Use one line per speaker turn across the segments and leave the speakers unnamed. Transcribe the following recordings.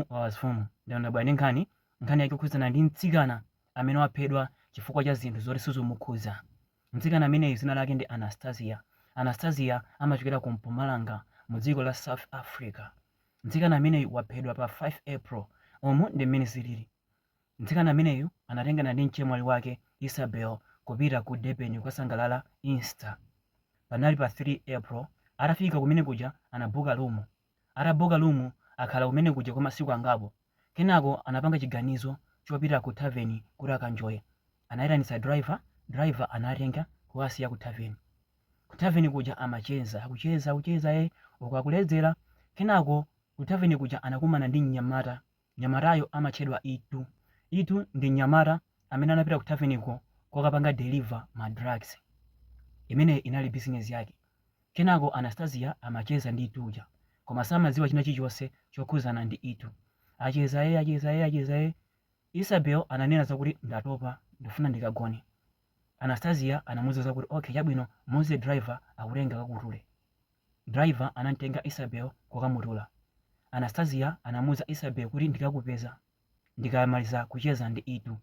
Wawa zfumu. Ndadabwa ndi nkhani, nkhani yake ikukhudzana ndi mtsikana amene waphedwa chifukwa cha zinthu zoti sizomukhudza. Mtsikana ameneyu dzina lake ndi Anastasia. Anastasia amachokera ku Mpumalanga mu dziko la South Africa. Mtsikana ameneyu waphedwa pa 5 April. Umu ndi mmene zilili. Mtsikana ameneyu anatengana ndi mchemwali wake Isabel kupita ku Durban kukasangalala Easter. Panali pa 3 April. Atafika kumene kuja anabooka room. Atabooka room akhala kumene kuja kwa masiku angapo. Kenako anapanga chiganizo chopita ku tavern kuti akanjoye. Anaitanitsa driver, driver anawatenga kukasiya ku tavern. Ku tavern kuja amacheza, akucheza, akucheza eh uku akuledzera. Kenako ku tavern kuja anakumana ndi mnyamata Mnyamatayo amatchedwa Itu. Itu ndi mnyamata amene anapita kutaveniko kukapanga deliver ma drugs. Imeneyi inali bizinezi yake. Kenako Anastasia amacheza ndi Itu uja koma samadziwa china chilichonse chokhudzana ndi Itu. Acheza ee, acheza ee, acheza ee. Isabel ananena zakuti ndatopa, ndikufuna ndikagone. Anastasia anamuuza zakuti okay chabwino muuze driver akutenge akakutule. Driver anamtenga Isabel kukamutula. Anastasia anamuuza Isabel kuti ndikakupeza ndikamaliza kucheza ndi Itu.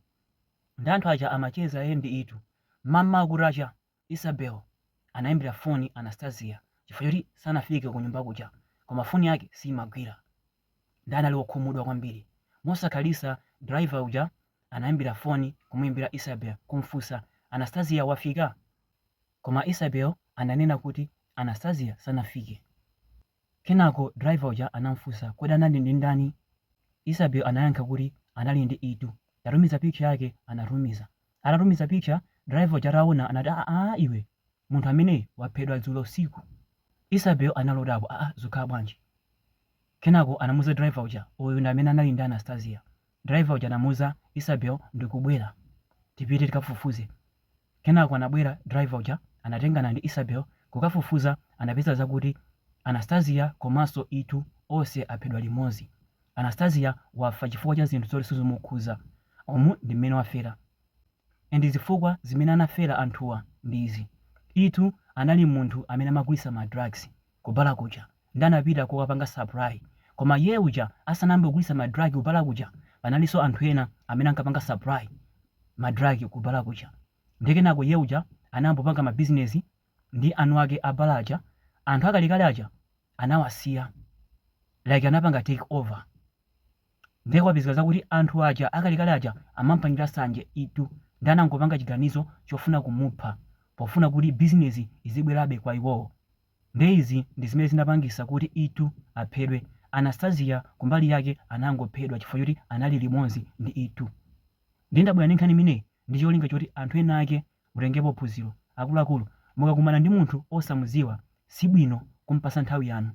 Nde anthu aja amacheza iye ndi Itu. M'mamawa kutacha, Isabel anaimbira foni Anastasia chifukwa choti sanafike kunyumba kuja koma foni yake siimagwira. Nde anali wokhumudwa kwambiri. Mosakhalitsa driver uja anaimbira foni kumuimbira Isabel kumfunsa, Anastasia wafika? Koma Isabel ananena kuti Anastasia sanafike. Kenako driver uja anam'funsa kodi anali ndi ndani? Isabel anayankha kuti anali ndi Itu. Tatumiza picture yake Anatumiza. Atatumiza picture, driver uja ataona anati aah iwe, munthu ameneyu waphedwa dzulo usiku. Isabel anali odabwa aah zikukhala bwanji? Kenako anamuuza driver uja uyu ndi amene anali ndi Anastasia. Driver uja anamuuza Isabel ndikubwera tipite tikafufuze. Kenako anabwera driver uja anatengana ndi Isabel kukafufuza anapeza zakuti Anastasia komanso Itu onse aphedwa limodzi. Anastasia wafa chifukwa cha zinthu zoti sizomukhudza. Umu ndi mmene wafera. And zifukwa zimene anafera anthuwa ndi izi. Itu anali munthu amene amagulitsa ma drugs. Ku bar kuja nde anapita kukapanga supply koma iyeyo uja asanayambe kugulitsa ma drug ku bar kuja panalinso anthu ena amene ankapanga supply ma drug ku bar kuja nde kenako iyeyo uja anayamba kupanga ma business ndi eni ake a bar aja anthu akalekale aja anawasiya like anapanga take over Ndiye kwapezeka zakuti anthu aja akalekale aja amampangira nsanje Ituu ndiye anangopanga chiganizo chofuna kumupha pofuna kuti bizinezi izibwerabe kwa iwowo ndiye izi ndizimene zinapangisa kuti Ituu aphedwe Anastasia kumbali yake anangophedwa chifukwa choti anali limodzi ndi Ituu ndiye ndabwera ndi nkhani imeneyi ndi cholinga choti anthu ena ake mutengepo phunziro akuluakulu mukakumana ndi munthu osamudziwa sibwino kumpasa nthawi yanu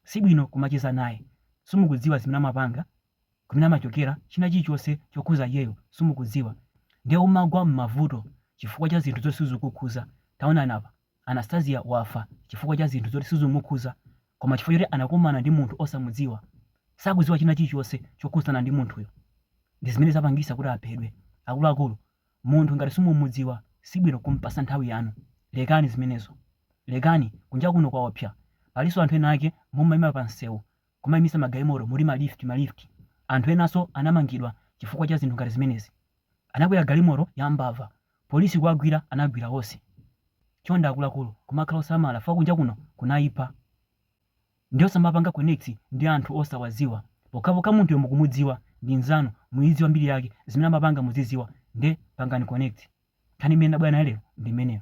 Sibwino kumacheza naye. Sumukudziwa zimene amapanga, kumene amachokera, china chilichonse chokhuza iyeyo sumukudziwa. Ndiye umadzagwa mmavuto chifukwa cha zinthu zoti sizikukukhuza. Taonani apa, Anastasia wafa chifukwa cha zinthu zoti sizimukhuza koma chifukwa choti anakumana ndi munthu osamudziwa. Sakudziwa china chilichonse chokhuzana ndi munthuyo. Ndizimene zapangisa kuti aphedwe. Akuluakulu Munthu ngati simumudziwa sibwino kumpasa nthawi yanu lekani zimenezo lekani kunja kuno kwaopsa paliso anthu ena ake mumaima pa msewu kumaimitsa magalimoto muti ma lift ma lift anthu enaso anamangidwa chifukwa cha zinthu ngati zimenezi anakwera galimoto ya mbava police kuwagwira anagwira onse chonde akuluakulu kumakhala osamala fukwa kunja kuno kunaipa. Nde osamapanga connect ndi anthu osawaziwa pokhapokha munthuyo mukumudziwa ndi mnzanu muidziwa mbiri yake zimene amapanga muziziwa nde pangani connect. Nkhani imene ndabwera nayo lero ndi imeneyo.